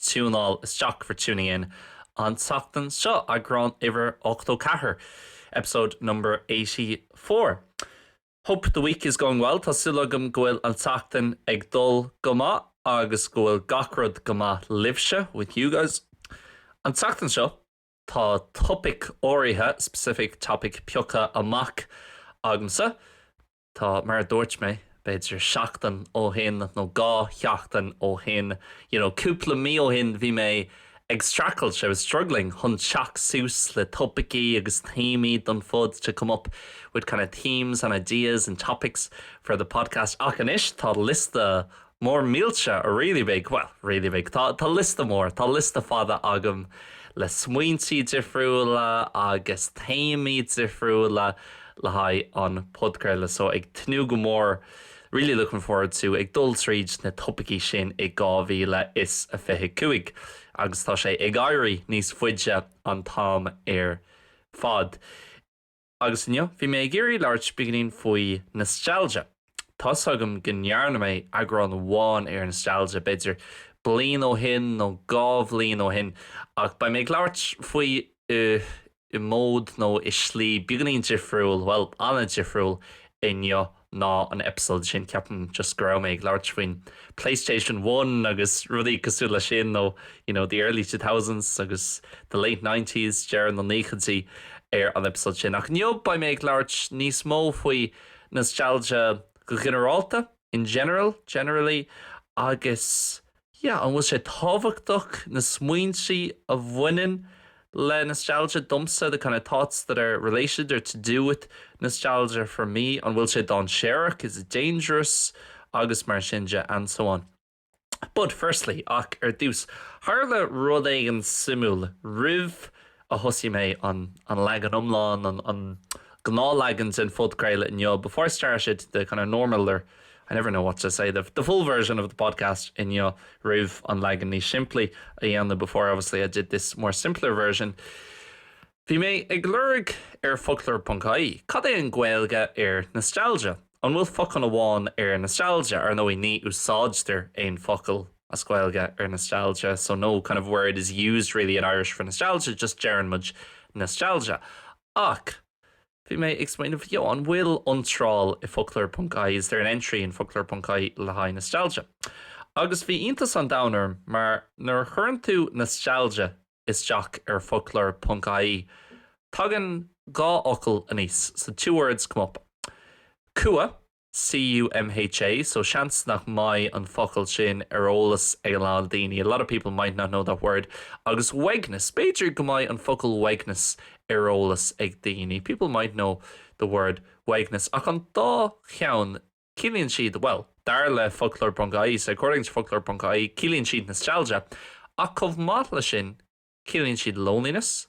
tiúnáil isteach, for tuning in, an tseachtain seo, eagrán uimhir ochtó ceathair, episode number eighty four. Hope the week is going well, tá súil agam go bhfuil an tseachtain ag dul go maith agus go bhfuil gach rud go maith libhse, with you guys. An tseachtain seo, tá topaic áirithe, specific topic, pioctha amach agamsa. Tá, mar a dúirt mé, b'fhéidir seachtain ó shin nó dhá sheachtain ó shin, you know, cúpla mí ó shin, bhí mé ag streachailt, I was struggling, chun teacht suas le topaicí agus téamaí don phod, to come up with kind of themes and ideas and topics for the podcast. Ach anois tá liosta Mór millteach, really big, well, really big, tá, tá liosta mór, tá liosta fada agam le smaointí difriúla agus téamaí difriúla le haghaidh an podchraoladh so ag tnúth go mór, really looking forward to, ag dul tríd na topaicí sin i 2025 agus tá sé ag éirí níos faide an t-am ar fad. Agus inniu bhí mé ag iarraidh labhairt beagainín faoi nostalgia. Tá's agam go ndearna mé eagrán amháin ar nostalgia, b'fhéidir bliain ó shin nó dhá bhliain ó shin, ach beidh mé ag labhairt faoi i modh nó i slí beagainín difriúil, bhuel, an-difriúil inniu. ná an eipeasóid sin, ceapaim, just go raibh mé ag labhairt faoin Playstation One agus rudaí cosúil leis sin nó you know, the early two thousands agus the late nineties, deireadh na nóchaidí ar an eipeasóid sin. Ach inniu beidh mé ag labhairt níos mó faoi nostalgia go ghinearálta, in general, generally, agus. yeah an bhfuil sé tábhachtach na smaointe a bhaineann le nostalgia domsa the kind of thoughts that are related or to do with nostalgia for me an bhfuil sé dainséarach is it dangerous agus mar sin de and so on but firstly ach ar dtús tharla rud éigin suimiúil roimh a thosaigh mé an an leagan iomlán, an an gnáthleagan den phodchraoladh inniu, before I started the kind of normal or I never know what to say, the the full version of the podcast inniu, roimh an leagan níos simplí a dhéanamh, before obviously I did this more simpler version. Bhí mé ag lorg ar foclóir ponc ie, cad é an Gaeilge ar nostalgia? An bhfuil focal amháin ar nostalgia? Ar ndóigh, ní úsáidtear aon focal. as Gaeilge ar nostalgia, so no kind of word is used really in Irish for nostalgia, just deireann muid nostalgia. Ach bhí mé ag smaoineamh, yeah, an bhfuil iontráil i foclóir ponc ie is there an entry in foclóir ponc ie le haghaidh nostalgia? Agus bhí iontas an domhain orm mar nuair a chuireann tú nostalgia isteach ar foclóir ponc ie tagann dhá fhocal aníos, so two words come up. Cumha. C-U-M-H-A, so seans nach mbeidh an focal sin ar eolas ag a lán daoine, a lot of people might not know that word, agus uaigneas, b'fhéidir go mbeidh an focal uaigneas ar eolas ag daoine, people might know the word uaigneas, ach an dá cheann, ciallaíonn siad, bhuel, dar le foclóir.ie, so according to foclóir.ie, ciallaíonn siad nostalgia, ach chomh maith leis sin, ciallaíonn siad loneliness,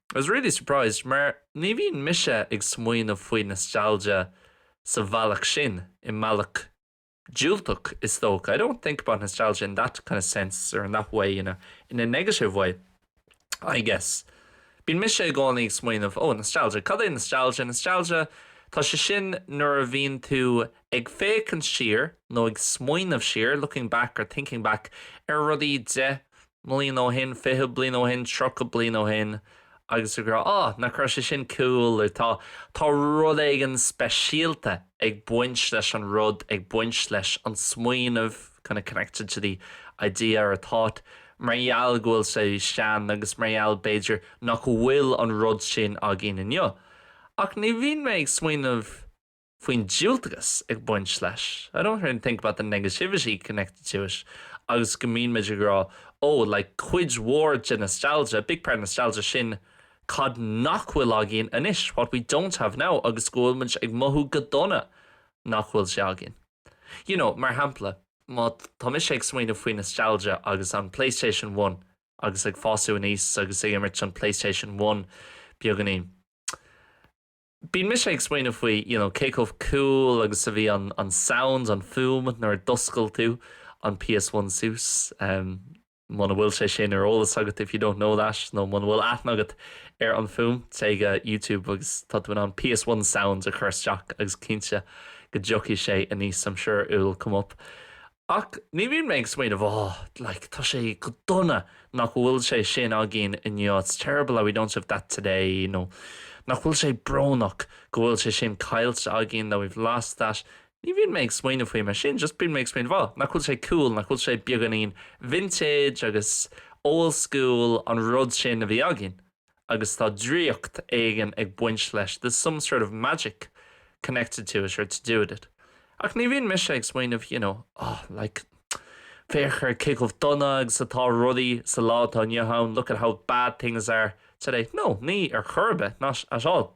I was really surprised, mar ní bhíonn mise ag smaoineamh faoi nostalgia sa bhealach sin, i mbealach diúltach is dócha, I don't think about nostalgia in that kind of sense or in that way, in a negative way, I guess. Bíonn mise i gcónaí ag smaoineamh, oh, nostalgia, cad é nostalgia? Nostalgia, tá sé sin nuair a bhíonn tú ag féachaint siar nó ag smaoineamh siar, looking back or thinking back, ar rudaí deich mbliain ó shin, fiche bliain ó shin, tríocha bliain ó shin, agus ag rá, 'Á, nach raibh sé sin cool, ar tá, tá rud éigin speisialta ag baint leis an rud, ag baint leis an smaoineamh, kind of connected to the idea or thought, mar gheall go bhfuil sé sean agus mar gheall, b'fhéidir, nach bhfuil an rud sin againn inniu. Ach ní bhíonn mé ag smaoineamh faoin diúltachas ag baint leis, I don't really think about the negativity connected to it agus go mbíonn muid ag rá oh like cuid mhór de nostalgia, big part of nostalgia sin cad nach bhfuil againn anois, what we don't have now agus go bhfuil muid ag mothú go dona nach bhfuil sé againn. You know, mar shampla, má tá mise ag smaoineamh faoi nostalgia agus an Playstation One agus ag fású aníos agus ag imirt an Playstation One beagainín, Bíonn mise ag smaoineamh faoi you know cé chomh cool agus a bhí an an sound, an fuaim nuair a d'oscail tú an PS1 suas em muna bhfuil sé sin ar eolas agat if you don't know that nó muna bhfuil aithne agat ar an fuaim, téigh go YouTube agus tá tú in ann PS1 sound a chur isteach agus cinnte go dtiocfaidh sé aníos I'm sure it will come up. Ach ní bhíonn mé ag smaoineamh, Ó, like, tá sé go dona nach bhfuil sé sin againn inniu, it's terrible that we don't have that today, nó nach bhfuil sé brónach go bhfuil sé sin caillte againn, that we've lost that. Ní bhíonn mé ag smaoineamh faoi mar sin, just bíonn mé ag smaoineamh, Ó, nach bhfuil sé cool, nach bhfuil sé beagáinín vintage agus old school an rud sin a bhí againn. agus tá draíocht éigin ag baint leis, there's some sort of magic connected to it or to do with it. Ach ní bhíonn mise ag smaoineamh, you know, oh, like, féach ar cé chomh dona agus atá rudaí sa lá atá inniu ann, look at how bad things are today. No, ní ar chor ar bith, not at all.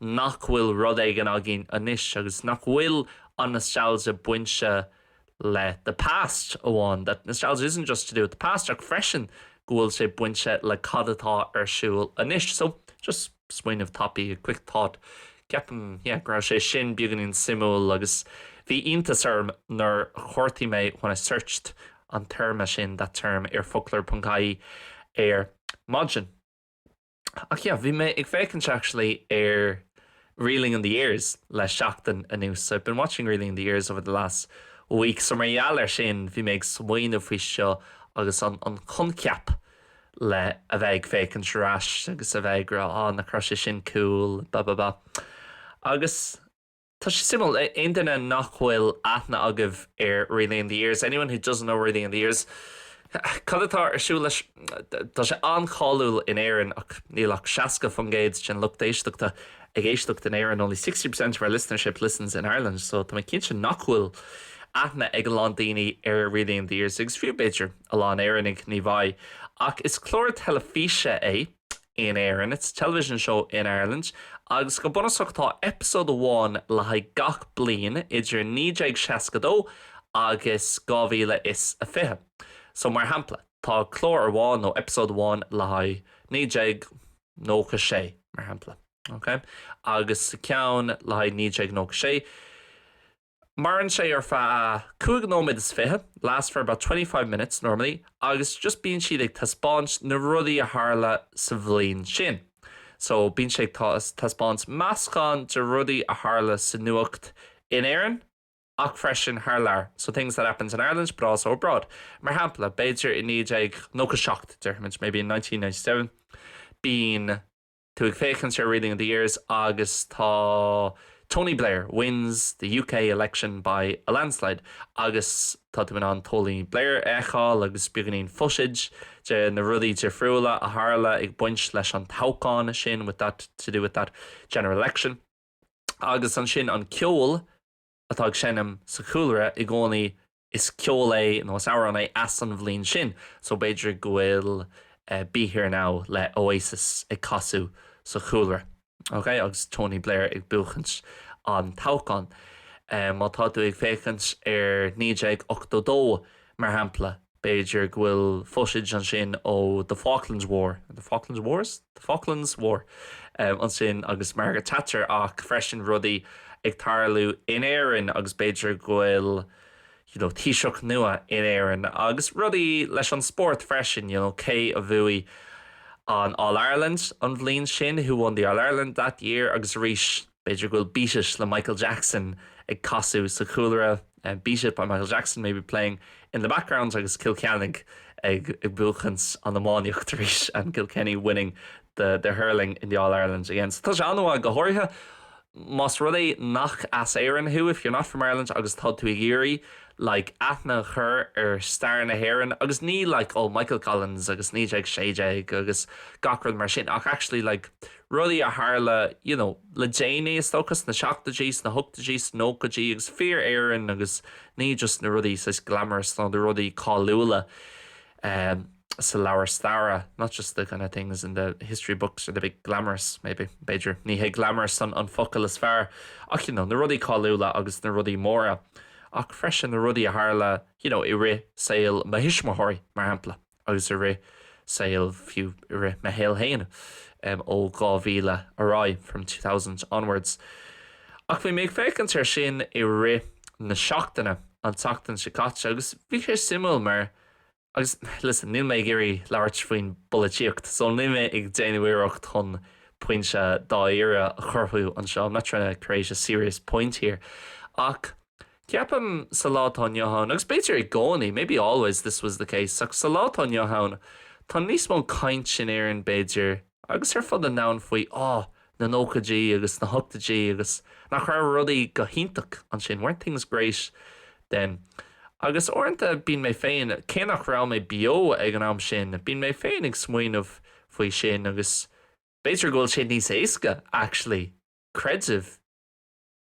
nach bhfuil rud éigin againn anois agus nach bhfuil an nostalgia bainte le the past amháin, that nostalgia isn't just to do with the past ach freisin go bhfuil sé bainte le cad atá ar siúl anois. So, just smaoineamh tapaidh, a quick thought, ceapaim, yeah, go raibh sé sin beagáinín suimiúil agus bhí iontas orm nuair a chuartaigh mé when I searched an téarma sin, that term, ar focloir.ie ar maidin. Ach yeah, bhí mé ag féachaint actually ar Reeling in the Years le seachtain anuas, so I've been watching Reeling in the Years over the last week, so mar gheall ar sin bhí mé ag smaoineamh faoi seo agus an an coincheap le a bheith ag féachaint ar ais agus a bheith ag rá ah nach raibh sé sin cool ba ba ba agus Tá sé suimiúil, aon duine nach bhfuil aithne agaibh ar Reeling in the Years, anyone who doesn't know Reeling in the Years, cad atá ar siúl leis? Tá sé an-cháiliúil in Éirinn ach níl ach 60% den lucht éisteachta ag éisteacht in Éirinn, only 60% of our listenership listens in Ireland, so tá mé cinnte nach bhfuil aithne ag a lán daoine ar Reeling in the Years agus fiú, b'fhéidir, a lán Éireannaigh, ní bheidh. Ach is clár teilifíse é. in Éirinn, It's a television show in Ireland, agus go bunúsach tá eipeasóid amháin le haghaidh gach bliain idir 1962 agus 2020. So, mar shampla, tá clár amháin nó eipeasóid amháin le haghaidh 1996, mar shampla, okay? Agus sa ceann le haghaidh 1996, Maireann sé ar feadh cúig nóiméad is fiche, lasts for about twenty five minutes normally, agus just bíonn siad ag taispeáint na rudaí a tharla sa bhliain sin. So bíonn siad ag taispeáint meascán de rudaí a tharla sa nuacht in Éirinn ach freisin thar lear, so things that happened in Ireland but also abroad. Mar shampla, b'fhéidir i naoi déag nócha seacht, déarfaimid, maybe in nineteen ninety seven, bíonn. Tú ag féachaint ar Reeling in the Years agus tá Tony Blair wins the UK election by a landslide agus tá tú in ann Tony Blair a fheiceáil agus beagáinín footage de na rudaí difriúla a tharla ag baint leis an toghchán sin with that, to do with that general election. Agus ansin an ceol. atá ag seinm sa chúlra i gcónaí, is ceol é nó is amhrán é as an bhliain sin, so b'fhéidir go bhfuil Be Here Now le Oasis ag casadh sa chúlra, ok, agus Tony Blair ag buachaint an toghcháin. Má tá tú ag féachaint ar 1982, mar shampla, B'fhéidir go bhfuil footage ansin ó The Falklands War, The Falklands Wars? The Falklands War ansin agus Margaret Thatcher ach freisin rudaí ag tarlú in Éirinn agus b'fhéidir go bhfuil you know taoiseach nua in Éirinn agus rudaí leis an spórt freisin, you know cé a bhuaigh an All-Ireland an bhliain sin, who won the All-Ireland that year agus arís. B'fhéidir go bhfuil Beat-It le Michael Jackson ag casadh sa chúlra, Beat It by Michael Jackson may be playing in the background agus Cill Ceannaigh ag buachaint an iománaíocht arís, and Kilkenny winning the the hurling in the All Ireland again. So tá sé an-mhaith, go háirithe más rud é nach as Éirinn thú, if you're not from Ireland agus tá tú ag iarraidh like aithne a chur ar stair na hÉireann agus ní like oh Michael Collins agus 1916 agus gach rud mar sin ach actually like rudaí a tharla you know le déanaí, is dócha, sna seachtóidí, sna hochtóidí, sna nóchaidí, agus fíor-Éirinn agus ní just na rudaí saghas glamorous nó na rudaí cáiliúla ehm sa leabhar staire, not just the kind of things in the history books or the big glamorous, maybe, b'fhéidir, ní hé glamorous an an focal is fearr, ach you know na rudaí cáiliúla agus na rudaí móra, ach freisin na rudaí a tharla you know i rith saol mo thuismitheoirí, mar shampla. agus i rith saoil, fiú i rith mo shaol féin, ó 2000 ar aghaidh, from 2000 onwards. Ach bhí mé ag féachaint air sin i rith na seachtaine, an tseachtain seo caite, agus bhí sé suimiúil mar, agus listen, níl mé ag iarraidh labhairt faoin bpolaitíocht, so níl mé ag déanamh iarracht chun pointe dáiríre a chruthú anseo, I'm not trying to create a serious point here, ach. Ceapaim, sa lá atá inniu ann, agus b'fhéidir i gcónaí, maybe always this was the case, ach sa lá atá inniu ann, tá níos mó caint in Éirinn, b'fhéidir, agus ar fud an domhain faoi, á, na nóchaidí agus na hochtóidí agus nach raibh rudaí go hiontach ansin, weren't things great then? Agus uaireanta bíonn mé féin, cé nach raibh mé beo ag an am sin, bíonn mé féin ag smaoineamh faoi sin agus b'fhéidir go bhfuil sé níos éasca, actually, creidim,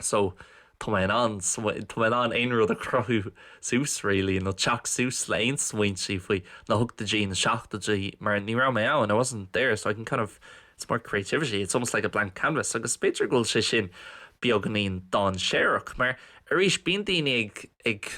So, tá mé in ann, tá mé in ann aon rud a chruthú suas, really, nó teacht suas le aon smaointí faoi na hochtóidí, na seachtóidí, mar ní raibh mé ann, I wasn't there, so I can kind of, it's more creativity, it's almost like a blank canvas, agus b'fhéidir go bhfuil sé sin beagáinín dainséarach, mar arís, bíonn daoine ag, ag,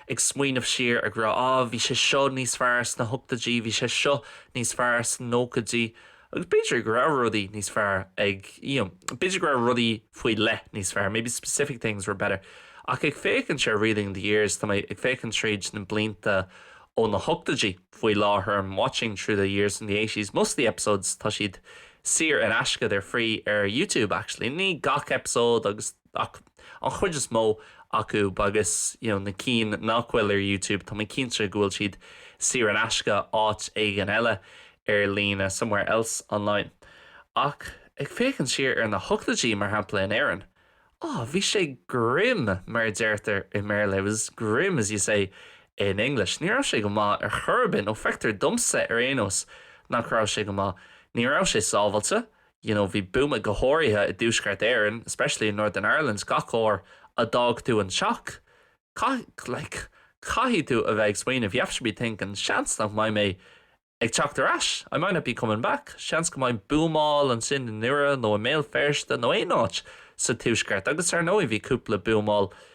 ag smaoineamh siar ag rá, ah, bhí sé seo níos fearr sna hochtóidí, bhí sé seo níos fearr sna nóchaidí, Agus b'fhéidir go raibh rudaí níos fearr ag, you know, b'fhéidir go raibh rudaí faoi leith níos fearr, maybe specific things were better. Ach ag féachaint ar Reeling the Years, tá mé ag féachaint tríd na blianta ó na hochtóidí faoi láthair, I'm watching through the years in the eighties, most of the episodes tá siad saor in aisce, they're free ar YouTube actually, ní gach eipeasóid agus. Ach an chuid is mó acu, agus you know na cinn nach bhfuil ar YouTube, tá mé cinnte go bhfuil siad saor in aisce áit éigin eile ar líne, somewhere else online. Ach ag féachaint siar ar na hochtóidí, mar shampla in Éirinn, oh bhí sé grim mar a deirtear i mBéarla, it was grim as you say in English. Ní raibh sé go maith ar chor ar bith, nó feictear domsa ar aon nós nach raibh sé go maith. Ní raibh sé sábháilte, you know bhí buama go háirithe i dTuaisceart Éireann especially in Northern Ireland gach uair a d'fhág tú an teach caith like caithfidh tú a bheith ag smaoineamh you have to be thinking seans nach mbeidh mé ag teacht ar ais I might not be coming back seans go mbeidh buamáil ansin i nDoire nó i mBéal Feirste nó aon áit sa Tuaisceart agus dar ndóigh bhí cúpla buamáil i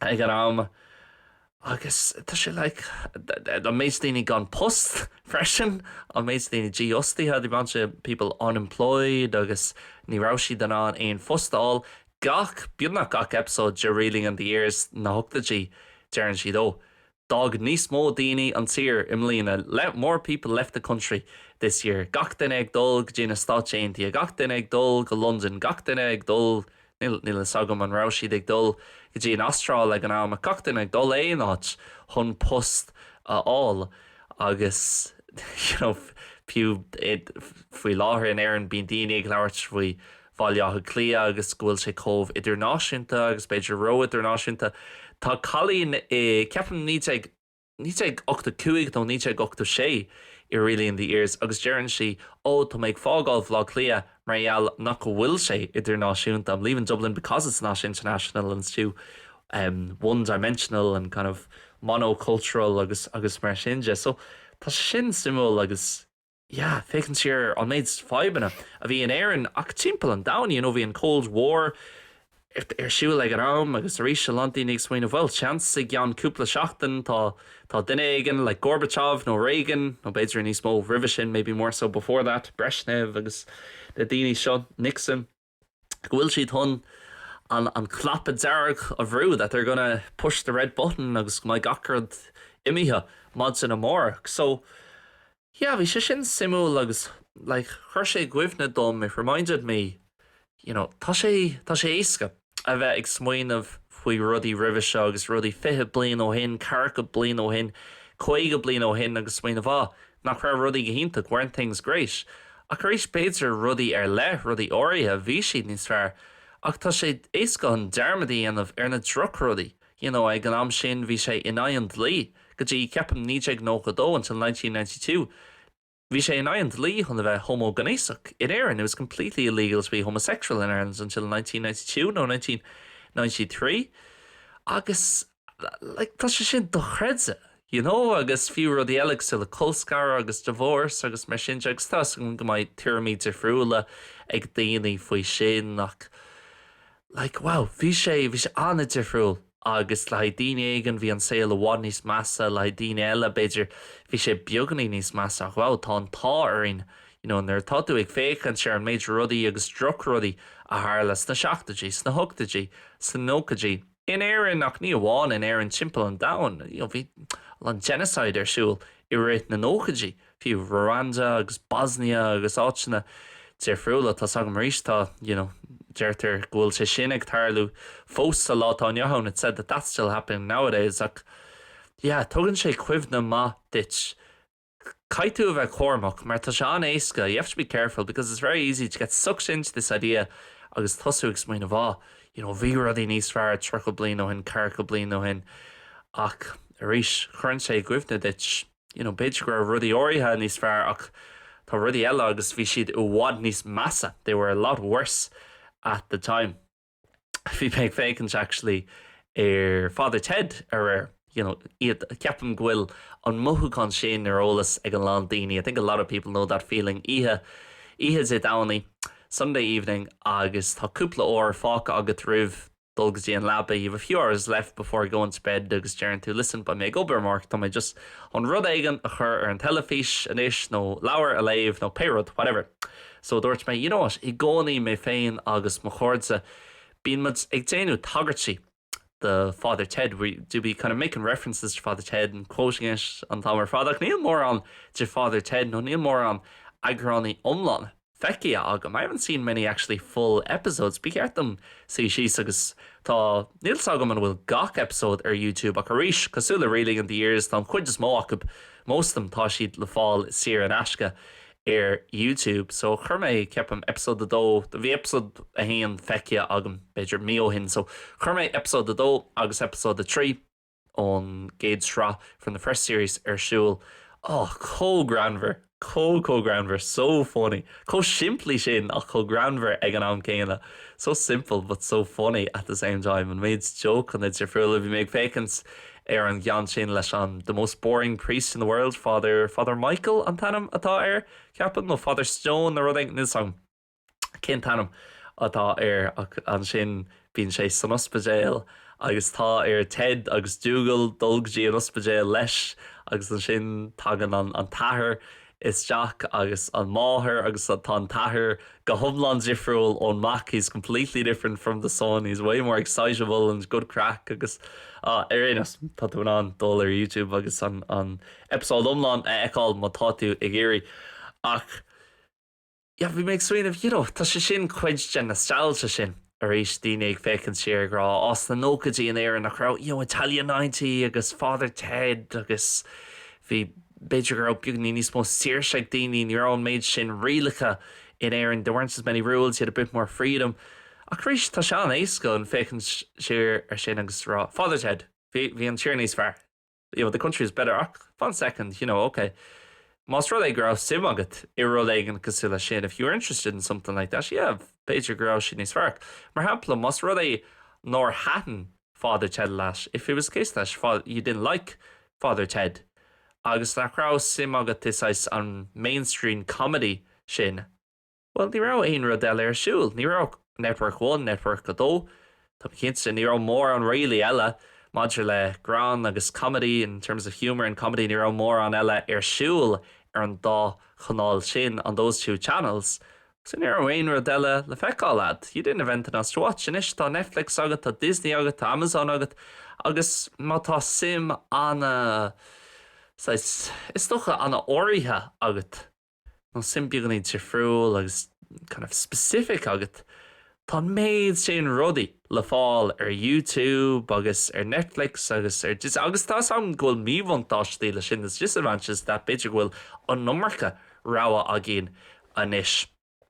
ag an am agus tá sé like an méid daoine gan post freisin, an méid daoine dífhostaithe, the amount of people unemployed agus ní raibh siad in ann aon phost a fháil. Gach, beagnach gach episode de Reeling in the Years na hochtóidí deireann siad 'oh D'fhág níos mó daoine an tír i mbliana like more people left the country this year gach duine ag dul go dtí na Stáit Aontaithe, gach duine ag dul go Londain, gach duine ag dul, níl a fhios agam an raibh siad ag dul go dtí an Astráil ag an am, ach gach duine ag dul aon áit chun post a fháil agus you know fiú faoi láthair in Éirinn bíonn daoine ag labhairt faoi Bhaile Átha Cliath agus go bhfuil sé chomh idirnáisiúnta agus b'fhéidir ró-idirnáisiúnta. Tá cailín i, ceapaim, naoi déag, naoi déag ochtó cúig nó naoi déag ochtó sé, i Reeling in the Years agus deireann sí, Ó, tá mé ag fágáil Bhaile Átha Cliath mar gheall nach go bhfuil sé idirnáisiúnta, I'm leaving Dublin because it's not international and it's too em one-dimensional and kind of mono-cultural agus, agus mar sin de. So, tá sin suimiúil agus. yeah féachaint siar an méid fadhbanna a bhí in Éirinn ach timpeall an domhain, you know bhí an Cold War ar siúl ag an am agus arís a lán daoine ag smaoineamh bhuel seans i gceann cúpla seachtain tá tá duine éigin like Gorbachev nó Reagan nó b'fhéidir níos mó roimhe sin maybe more so before that Brezhnev agus na daoine seo, Nixon. go bhfuil siad chun an an cnaipe dearg a bhrú, that they're gonna push the red button agus go mbeidh gach rud imithe maidin amárach. So, yeah, bhí sé sin suimiúil agus like chuir sé i gcuimhne dom, it reminded me, you know, tá sé, tá sé éasca a bheith ag smaoineamh faoi rudaí roimhe seo agus rudaí fiche bliain ó shin, ceathracha bliain ó shin, caoga bliain ó shin agus smaoineamh, ah, Nach raibh rudaí go hiontach? Weren't things great? Ach arís, b'fhéidir, rudaí ar leith, rudaí áirithe, bhí siad níos fearr. Ach tá sé éasca an dearmad a dhéanamh ar na drochrudaí. You know, ag an am sin, bhí sé in aghaidh an dlí, go dtí, ceapaim, 1992, until 1992, bhí sé in aghaidh an dlí chun a bheith homaighnéasach in Éirinn, it was completely illegal to be homosexual in Ireland until 1992, nó 1993. Agus. like, tá sé sin dochreidte, you know, agus fiú rudaí eile cosúil le colscaradh agus divorce agus mar sin de agus tá's agam go mbeidh tuairimí difriúla ag daoine faoi sin ach like, wow, bhí sé, bhí sé an-difriúil agus le haghaidh daoine éigin bhí an saol i bhfad níos measa, le haghaidh daoine eile b'fhéidir bhí sé beagainín níos measa ach wow, tá an t-ádh orainn, you know, nuair atá tú ag féachaint ar an méid rudaí agus drochrudaí a tharla sna seachtoidí, sna hochtoidí, sna nóchaidí. In Éirinn, ach ní amháin in Éirinn, timpeall an domhain, you know, bhí a lán genocide ar siúl i rith na nóchaidí, fiú Rwanda agus Bosnia agus áiteanna difriúla. Tá's agam arís, tá, you know, deirtear go bhfuil sé sin ag tarlú fós sa lá atá inniu ann, it's said that that's still happening nowadays, ach yeah, tugann sé cuimhne maith duit. Caithfidh tú a bheith cúramach mar tá sé an-éasca, you have to be careful because it's very easy to get sucked into this idea agus tosú ag smaoineamh, á, you know, bhí rudaí níos fearr tríocha bliain ó shin, ceathracha bliain ó shin. Ach, arís, cuireann sé i gcuimhne duit, you know, b'fhéidir go raibh rudaí áirithe níos fearr ach tá rudaí eile agus bhí siad i bhfad níos measa, they were a lot worse at the time. bhí mé ag féachaint actually ar Father Ted aréir, you know, ceapaim go bhfuil an mothúchán sin ar eolas ag a lán daoine. I think a lot of people know that feeling oíche oíche Dé Domhnaigh, Sunday evening agus tá cúpla uair fágtha agat roimh dul go dtí an leaba, you have a few hours left before going to bed agus deireann tú listen beidh mé ag obair amárach tá mé just chun rud éigin a chur ar an teilifís anois nó leabhar a léamh nó pé rud whatever. So dúirt mé, you know what, i gcónaí, mé féin agus mo chairde, bíonn muid ag déanamh tagairtí do Father Ted, we do be kind of making references to Father Ted and quoting it an t-am ar fad, ach níl mórán de Father Ted nó níl mórán eagránaí iomlána feicthe agam, I haven't seen many actually full episodes, ba cheart dom suí síos agus tá, níl 's agam an bhfuil gach episode ar YouTube ach arís, cosúil le Reeling in the Years, tá an chuid is mó acu, most of them, tá siad le fáil saor in aisce ar YouTube. So chuir mé, ceapaim, eipeasóid a dó, bhí eipeasóid a haon feicthe agam, b'fhéidir, mí ó shin. So chuir mé eipeasóid a dó agus eipeasóid a trí ón gcéad sraith, from the first series, ar siúl. Á, chomh greannmhar, chomh, chomh greannmhar, so funny. Chomh simplí sin ach chomh greannmhar ag an am céanna. So simple but so funny at the same time, an méid jócanna difriúla a bhí mé ag féachaint Ar an gceann sin leis an the most boring priest in the world, Father, Father Michael an t-ainm atá air, ceapaim, nó Father Stone nó rud éigin, níl 's agam cén t-ainm atá air, ach ansin bíonn sé san ospidéal agus tá ar Ted agus Dougal dul go dtí an ospidéal leis agus ansin tagann an an t-athair isteach agus an máthair agus an tá an t-athair go hiomlán difriúil ón mac he is completely different from the son he is way more excitable and good craic agus ar aon nós tá tú in ann dul ar youtube agus an an eipeasóid iomlán a fheiceáil má tá tú ag iarraidh ach yeah bhí mé ag smaoineamh you know tá sé sin cuid den nostalgia sin arís daoine ag féachaint siar ag rá á sna nóchaidí in Éirinn nach raibh you know Italia 90 agus Father Ted agus bhí b'fhéidir go raibh beagní níos mó saoirse ag daoine ní raibh an méid sin rialacha in Éirinn there weren't as many rules you had a bit more freedom ach arís tá sé an-éasca chun féachaint siar ar sin agus rá Father Ted bhí bhí an tír níos fearr you know, the country is better ach fan second, you know, ok, más rud é go raibh suim agat i rud éigin cosúil leis sin, if you were interested in something like that, yeah, b'fhéidir go raibh sé níos fearr. Mar shampla, más rud é nár thaitin Father Ted leat, if it was the case that you didn't like Father Ted, agus nach raibh suim agat i saghas an mainstream comedy sin, Bhuel, ní raibh aon rud eile ar siúl. Ní raibh Network One, Network a Dó, tá mé cinnte, ní raibh mórán really eile maidir le greann agus comedy, in terms of humour and comedy, ní raibh mórán eile ar siúl ar an dá chanáil sin, on those two channels. So ní raibh aon rud eile le feiceáil agat, you didn't have anything else to watch. Anois tá Netflix agat, tá Disney agat, tá Amazon agat agus má tá suim ana, saghas, is dócha, ana-áirithe agat, nó suim beagainín difriúil agus kind of specific agat, tá an méid sin rudaí le fáil ar YouTube agus ar Netflix agus ar Disney agus tá's agam go bhfuil míbhuntáistí leis sin, there's disadvantages to that b'fhéidir go bhfuil an iomarca rogha againn anois.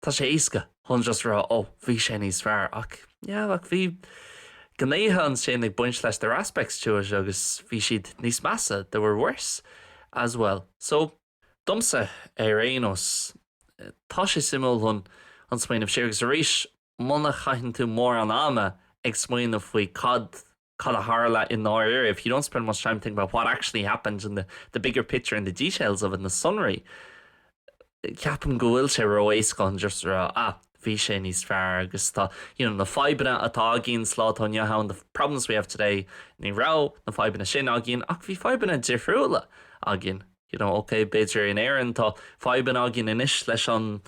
Tá sé éasca chun just a rá 'Ó, bhí sé níos fearr. Ach, yeah, ach bhí gnéithe ansin ag baint leis, there were aspects to it agus bhí siad níos measa, they were worse as well. So, domsa, ar aon nós, tá sé suimiúil chun smaoineamh siar agus arís, muna chaitheann tú mórán ama ag smaoineamh faoi cad cad a tharla i ndáiríre, if you don't spend much time thinking about what actually happened in the the bigger picture and the details of it, na sonraí, ceapaim go bhfuil sé ró-éasca chun just a rá, ah, bhí sé níos fearr agus tá, you know, na fadhbanna atá againn sa lá atá inniu ann, the problems we have today, ní raibh na fadhbanna sin againn ach bhí fadhbanna difriúla againn. you know, ok, b'fhéidir in Éirinn tá fadhbanna againn anois leis an,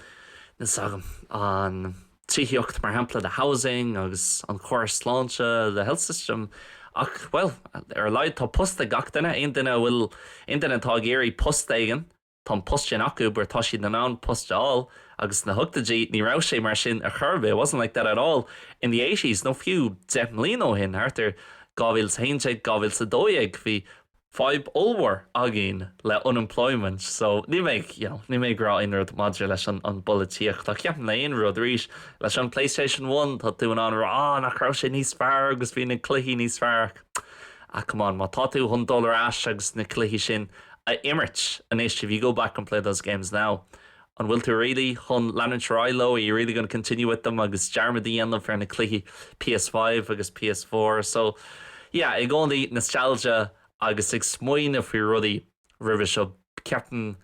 níl 's agam, an tithíocht, mar shampla, the housing agus an córas sláinte, the health system, ach, bhuel, ar a laghad tá post ag gach duine, aon duine a bhfuil, aon duine atá ag iarraidh post éigin, tá an post sin acu or tá siad in ann post a fháil agus sna hochtaidí ní raibh sé mar sin ar chor ar bith, it wasn't like that at all in the eighties nó fiú deich mbliana ó shin, thart ar 2011, 2012, bhí, fadhb ollmhór againn le unemployment so níl mé ag you know níl mé ag rá aon rud maidir leis an an bpolaitíocht ach ceapaim le aon rud arís leis an playstation one tá tú in ann rá ah nach raibh sé níos fearr agus bhí na cluichí níos fearr ach ah come on má tá tú chun dul ar ais agus na cluichí sin a imirt anois if you go back and play those games now An bhfuil tú really chun leanúint ar aghaidh leo? Are you really going to continue with them agus dearmad a dhéanamh ar na cluichí PS5 agus PS4? So, yeah, i gcónaí nostalgia agus ag smaoineamh faoi rudaí roimhe seo. Ceapaim,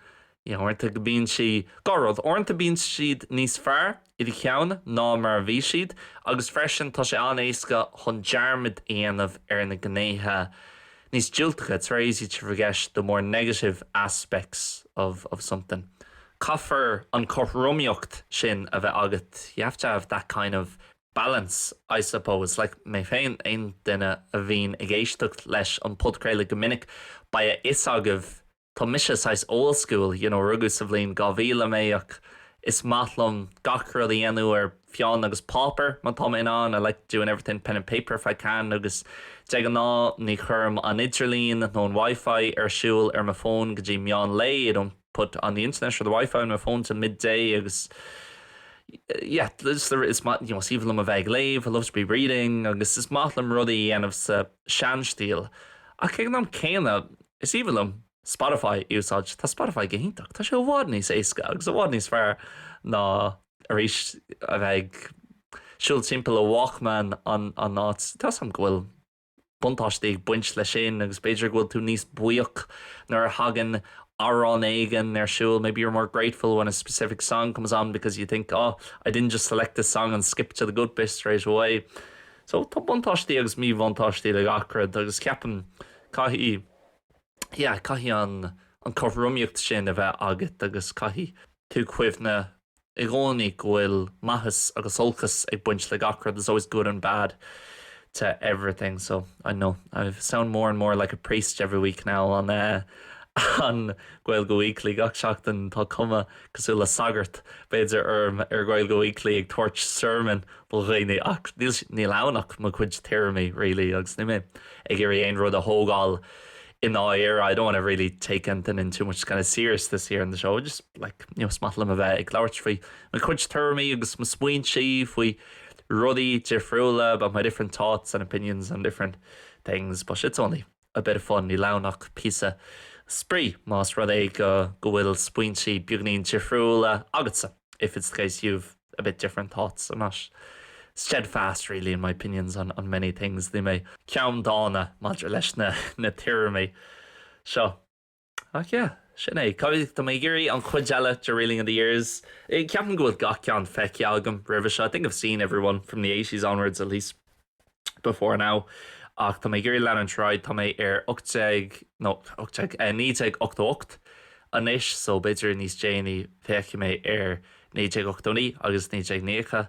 you know, uaireanta go mbíonn sé, dhá rud, uaireanta bíonn siad níos fearr i do cheann ná mar a bhí siad agus freisin tá sé an-éasca chun dearmad a dhéanamh ar na gnéithe níos diúltacha, it's very easy to forget the more negative aspects of of something. Caithfear an chothromaíocht sin a bheith agat, you have to have that kind of balance I suppose, like mé féin, aon duine a bhíonn ag éisteacht leis an podchraoladh go minic, beidh a fhios agaibh. Tá mise saghas old school, you know, rugadh sa bhliain 2000 mé ach is maith liom gach rud a dhéanamh ar pheann agus páipéar má tá mé in ann, I like doing everything pen and paper if I can agus de ghnáth ní chuirim an idirlíon nó an wifi ar siúl ar mo fón go dtí meán lae, I don't put on the internet or the wifi on my phone till midday agus yeah, just the, is maith, you know, is aoibhinn liom a bheith ag léamh, I love to be reading agus is maith liom rudaí a dhéanamh sa seanstíl. Ach ag an am céanna, Is aoibhinn liom Spotify a úsáid. Tá Spotify go hiontach. Tá sé i bhfad níos éasca agus i bhfad níos fearr ná, arís, a bheith ag siúl timpeall le Walkman ina áit. Tá a fhios agam go bhfuil buntáistí ag baint leis sin agus b'fhéidir go bhfuil tú níos buíoch nuair a thagann amhrán éigin ar siúl, maybe you're more grateful when a specific song comes on because you think, oh, I didn't just select this song and skip to the good bit straight away. So, tá buntáistí agus míbhuntáistí le gach rud agus ceapaim, Caithfidh, yeah, caithfidh an, an cothromaíocht sin a bheith agat agus caithfidh tú cuimhneamh i gcónaí go bhfuil maitheas agus olcas ag baint le gach rud, there's always good and bad to everything. So, I know, I sound more and more like a priest every week now on eh on Gaeilge Weekly, gach seachtain tá cuma cosúil le sagart, b'fhéidir, orm ar Ghaeilge Weekly ag tabhairt sermon. mo dhaoine ach níl ann ach mo chuid tuairimí really agus níl mé ag iarraidh aon rud a thógáil i ndáiríre I don't want to really take anything in too much kind of seriousness here on the show I just like you know is maith liom a bheith ag labhairt faoi mo chuid tuairimí agus mo smaointe faoi rudaí difriúla about my different thoughts and opinions on different things but shit's only a bit of fun, níl ann ach píosa spraoi, más rud é go go bhfuil smaointe beagáinín difriúla agatsa if it's the case you've a bit different thoughts, I'm not steadfast really in my opinions on on many things, níl mé ceanndána maidir leis na na tuairimí seo. Ach yeah, sin é. Cá tá mé ag iarraidh an chuid eile de Reeling in the Years, ceapaim go bhfuil gach ceann feicthe agam roimhe seo, I think I've seen every one from the eighties onwards at least before now, ach tá mé ag iarraidh leanúint ar aghaidh, tá mé ar ocht déag, no, ocht déag, eh, naoi déag ochtó ocht anois, so b'fhéidir níos déanaí féachfaidh mé ar naoi déag ochtó naoi agus naoi déag nócha.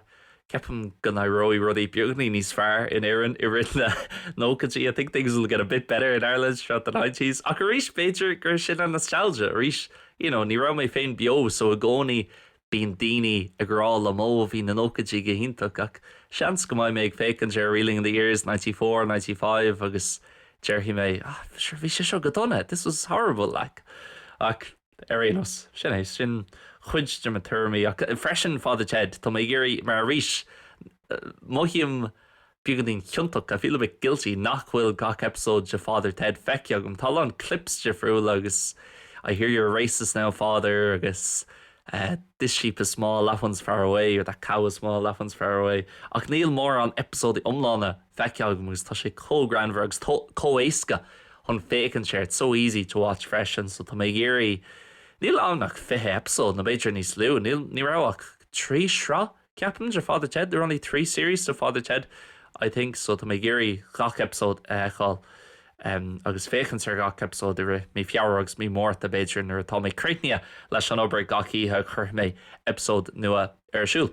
Ceapaim go n-éireoidh rudaí beagáinín níos fearr in Éirinn i rith na nóchaidí, I think things will get a bit better in Ireland throughout the nineties. Ach arís, b'fhéidir gur sin an nostalgia arís, you know, ní raibh mé féin beo so i gcónaí bíonn daoine ag rá liom oh, bhí na nóchaidí go hiontach ach seans go mbeidh mé ag féachaint ar Reeling in the Years ninety four, ninety five agus déarfaidh mé ah, sure, bhí sé seo go dona, this was horrible like. Ach. Ar aon nós, sin é. Sin cuid de mo thuairimí. Ach freisin, Father Ted, tá mé ag iarraidh, mar arís, mothaím beagáinín ciontach, I feel a bit guilty, nach bhfuil gach eipeasóid de Father Ted feicthe agam. Tá a lán clips difriúla agus I hear you're a racist now, Father agus this sheep is small, that one's far away, or that cow is small, that one's far away. Ach níl mórán eipeasóidí iomlána feicthe agam agus tá sé chomh greannmhar agus chomh éasca chun féachaint air, it's so easy to watch freisin so tá mé ag iarraidh, níl ann ach fiche eipeasóid nó b'fhéidir níos lú, níl, ní raibh ach trí shraith ceapaim de Father Ted, there were only three series to Father Ted I think so tá mé ag iarraidh gach eipeasóid a fheiceáil agus féachaint ar gach eipeasóid i rith mí Feabhra agus mí Márta b'fhéidir nuair atá mé críochnaithe leis an obair gach oíche cuirfidh mé eipeasóid nua ar siúl.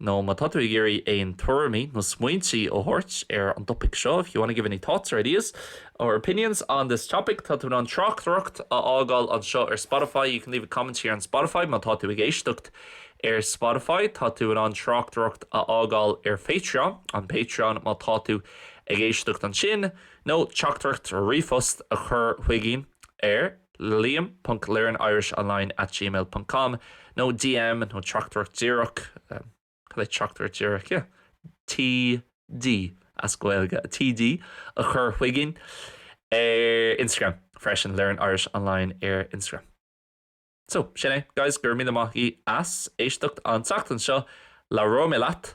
nó má tá tú ag iarraidh aon tuairimí nó smaointí a thabhairt ar an dtopaic seo, if you want to give any thoughts or ideas or opinions on this topic, tá tú in ann tráchtaireacht a fhágáil anseo ar Spotify, you can leave a comment here on Spotify, má tá tú ag éisteacht ar Spotify, tá tú in ann tráchtaireacht a fhágáil ar Patreon, on Patreon, má tá tú ag éisteacht ansin, nó teachtaireacht, ríomhphost, a chur chugainn ar. liam.learnirishonline@gmail.com nó DM nó teachtaireacht díreach, cad é, teachtaireacht díreach? yeah TD as Gaeilge, TD a chur chugainn ar Instagram freisin, learnirishonline ar Instagram. So, sin é, guys, go raibh míle maith agat as éisteacht an tseachtain seo. Labhróidh mé leat